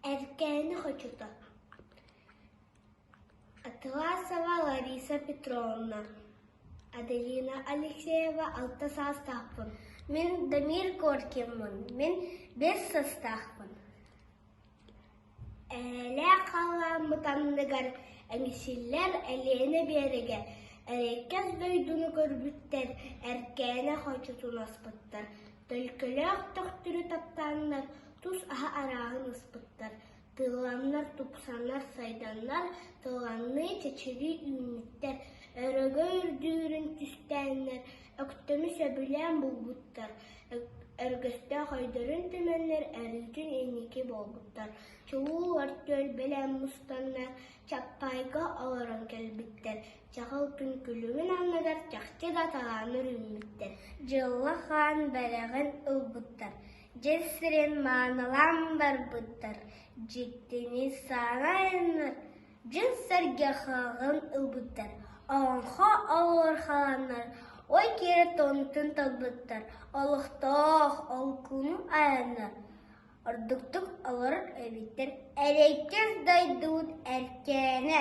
Эркээни хочута Атыласова Лариса Петровна, Аделина Алексеева алта саастаахпын, мин Дамир Коркиммын, мин биэс састаахпын. Эйэлээх хаалааммыт анныгар эҥсиллэр Элиэнэ Биэрэгэ Эрэйкэс дойдуну көрбүттэр, Эркээнэ хочутун аспыттар Төлкөлөөх төхтүрү таптааннар тус аһа арааһын ыспыттар, тыыланнар тупсанар, сайданнар, тыланныы чэчирии үүммүттэр, өрөгө үрдүүрүн түстээннэр, өктөмү сөбүлээн булбуттар, өргөстөөх ойдорун түмэннэр өрүүтүн инники буолбуттар, чугуу ортүөл бэлэм мустаннар, чаппайга олорон кэлбиттэр Чаҕыл күн күлүгүн анныгар чахчы да талааны үүммүттэр, дьылла хаан бэрэҕин ылбыттар, дьыл сирин маанылаан барбыттар, дьиктини саҥа айаннар дьыл сэргэхаҕын ылбыттар, олоҥхо олорхолоннор ой киирэ тоннутун талбыттар, олохтоох олкуну айаннар ордуктук олорор эбиттэр, эрэйкэс дойдубут эркээнэ